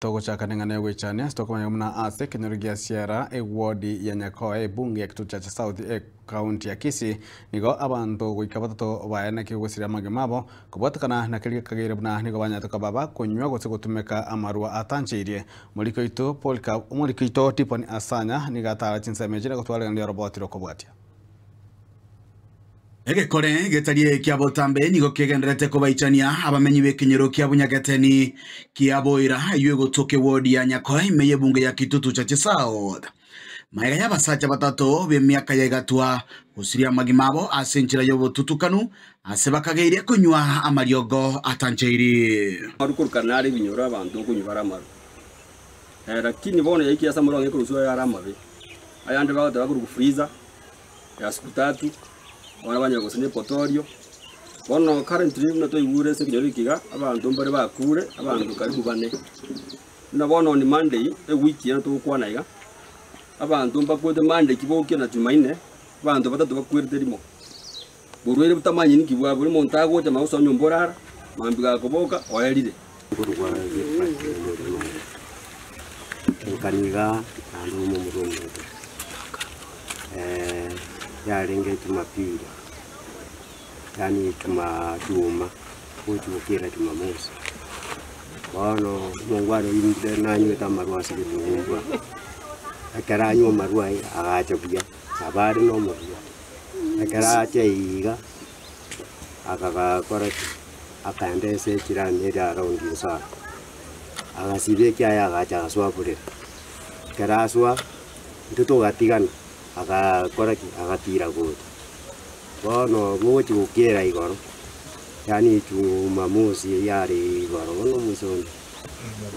Togochaka neng'ana y'ogwechania ase tokomanyete buna ase ekenyoro gia Sierra, ewodi ya Nyakoe, ebunge ya Kitutu Chache South, Ekaunti ya Kisii, nigo abanto goika batato baye naki ogosiria amagima abo, kobwatekana na keria gekageire buna nigo banyarete koba bakonywa gose gotumeka amarwa atancheirie. Omoriki oito Polycarp, omoriki oito Tiffany Asanya nigo atara chinsemo echi na gotwara eriogo ri'oroboti rokobwatia. Egekore getari ekia botambe nigo kegendererete kobaichania abamenyi b'ekenyero kia Bunyageteni kia Boira eyio egotwoka ewodi ya Nyakoe ime y'ebunge ya Kitutu Chache South. Maega y'abasacha batato b'emiaka ya egatwa gosiria amagima abo ase enchera y'obotutukanu ase bakageirie konywa amariogo atanchairi. Amaru korokana nare ebinyoro abanto okonywa bare amaru. Eh, lakini bono yaikia ase amorong'e ekorwa ase oyo are amabe. Ayande bagoteba akorokwa freezer. y'Asuputatu, abana ba nyoko gose Nepotorio. Bono currently buna twaigure ase ekenyoro eke iga, abanto mbare bakure, abanto karibu bane. Buna bono on Monday, ewiki eye togokwana iga, abanto mbakwete Monday ki bokia na Jumaine, abanto batato bakwerete rimo. Borwaire butamanyeti nki bwabore, omonto agocha mambia gosoa nyomba orara, mambia gakoboka oerire. Nkani igaa naende ouma omorwe omoito yarenge Jumapili, yaani juma juma gochia gokera Jumamosi. Bono omongwana oyio ninde nanywete amarwa ase egetungwa ekero anywa amarwa aye agacha buya nabo are nomorua. Ekero achia iga, akagakora ki? Akaenda ense ya chirani eria around inso aa, agasibia ekiaye agacha agasoa burere. Ekero asoa, intwe togatigana, agakora ki? Agatira gocha. Bono bogochia gokera igoro, yaani chuma mosi yare igoro, bono omonto.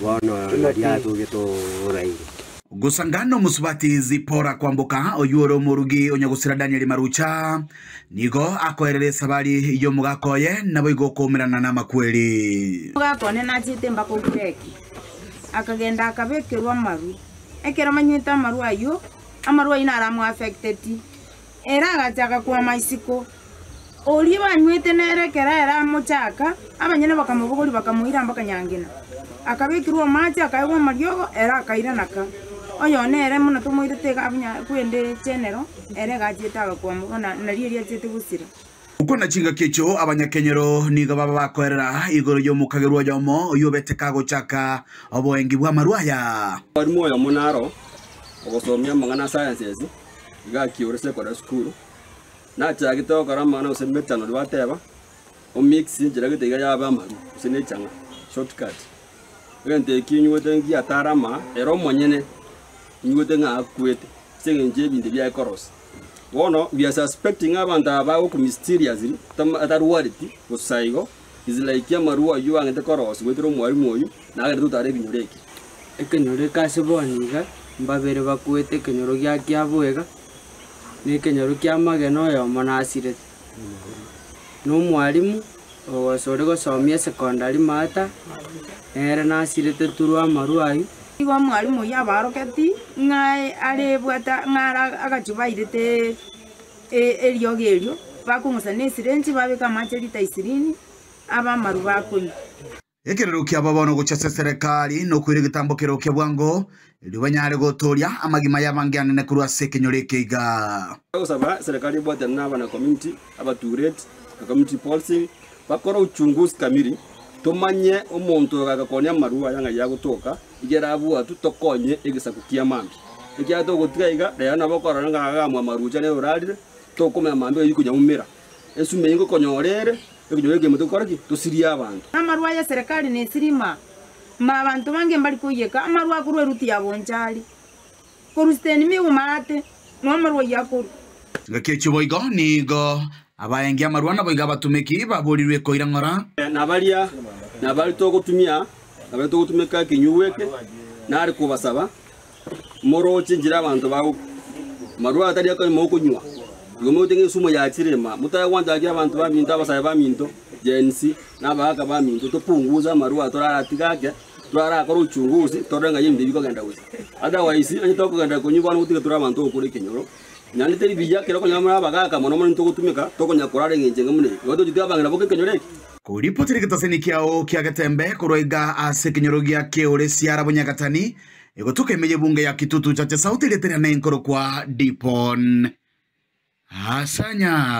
Bono nari'aase oria toraire. Gosanga nomosubati Zipora kwamboka, oyio ore omorugi onyagosira Danieli marucha, nigo akoerera esabari y'omogaka oye, naboigo okoumerana namakweri. Omogaka one nachete mpaka Ogireki, akagenda akabekerwa amaru. Ekero amanyete amaru ayio, amaru ayio naro amoaffecteti. Ere agachaka kwama isiko. Oria banywete nere ekero ere amochaka, abanyene bakamobogoria, bakamoira mpaka nyangena. Akabekirwa amache, akaegwa amariogo, ere akaira naka. Oyone ere buna tomoirete iga abunya kwende chenero, ere iga achiete agakwama bono na- nario erio achiete gosira. Okwana chingaki echio abanyakenyero nigo baba bakoerera igoro y'omokagerwa oyomo oyio obete kagochaka oboengi bw'amarwa aya. Omwarimu oyomo naro ogosomia amang'ana a Sciences gaki ore sekondari sukuru, nachagete gokora amang'ana gose emetanori bateba omix enchera gete iga yabe amaru gose ne echang'a, short cut. Egento ekio inywete ngiya atare amaa, ere omonyene inywete ng'a akwete ase eng'encho ebinto ebiaye korosia. Bono we are suspecting ng'a abanto aba bagoku mysteriously tam atarwareti bosa igo, is like amarua ayio agente korosia goetera omwarimu oyio nagende totare ebinyoro eke. Ekenyoro eke ase bono iga mbabere bakoete ekenyoro gia kiaboiga, na ekenyoro ki'amagena oyomo nasirete. Na omwarimu ogose ore gosomia esecondary maata nere nasirete through amarua ayio. Igo omwarimu oyio abaroketi ng'a are bwate ng'a ara agachubairete. eriogi erio, bakong'usa nesirenji, babeka amache lita isirini, abamaru bakonywa. Ekerero kiabo bono gochia ase eserekari, nokoira egetambo kerokia bwango, erio banyare gotooria amagima y'abangeanene korwa ase ekenyoro eke iga. Togosaba serekari ebwatane na abana community abatuureti na community policing bakore uchunguzi kamili tomanye omonto oyo ogakonia amarwa aya ng'ai agotoka. Igera abwo atu tokonye egesaku kia mambia. Ekiagera togotiga iga, rero nabo okorora ng'a agamwa amaruuche nere orarire, tokomanya mambia oyio konyaumera. Esime eyio nkokonyora ere, ekonyoro ekeimo togokora ki? Tosirie abanto. Amarwa aye eserekari nesirima, mba abanto bange mbari koiyeka amarwa akorwa eruti ya bonchari. Korwa sitendi miguma aate, na omorwai akorue. Ngaki echio boigo nigo abaengi amarwa naboigo abatumeki baborirwe koira ng'ora. Na baria nabare togotumia nabare togotumeka ekenyugwa eke, nare kobasaba, Morooche enchera abanto bago, amarwa atari akonywa mogokonywa, igo moite ng'a ensumo ya chirima, motae gwancha gaki abanto baminto, abasae baminto, Gen. C, na abagaaka baminto, topunguze amarwa toraratiga ake, Twarakore uchunguzi, torore ng'a ebinto bikogenda gocha. Otherwise, onye tokogenda konywa bono gotige tore abanto okora ekenyoro, naende teri biya ekero okonyora more abagaaka mono mono nitogotumeka, tokonya korara eng'encho enge buna eye. Nabo tochia toyabang'ina boka ekenyoro eke. Koripotiri getaseni kiao kia getembe korwa iga ase ekenyoro gia Keole Siara Bonyagatani, egotoka ime y'ebunge ya Kitutu Church South erieta riane nkorokwa Dipon Asanya.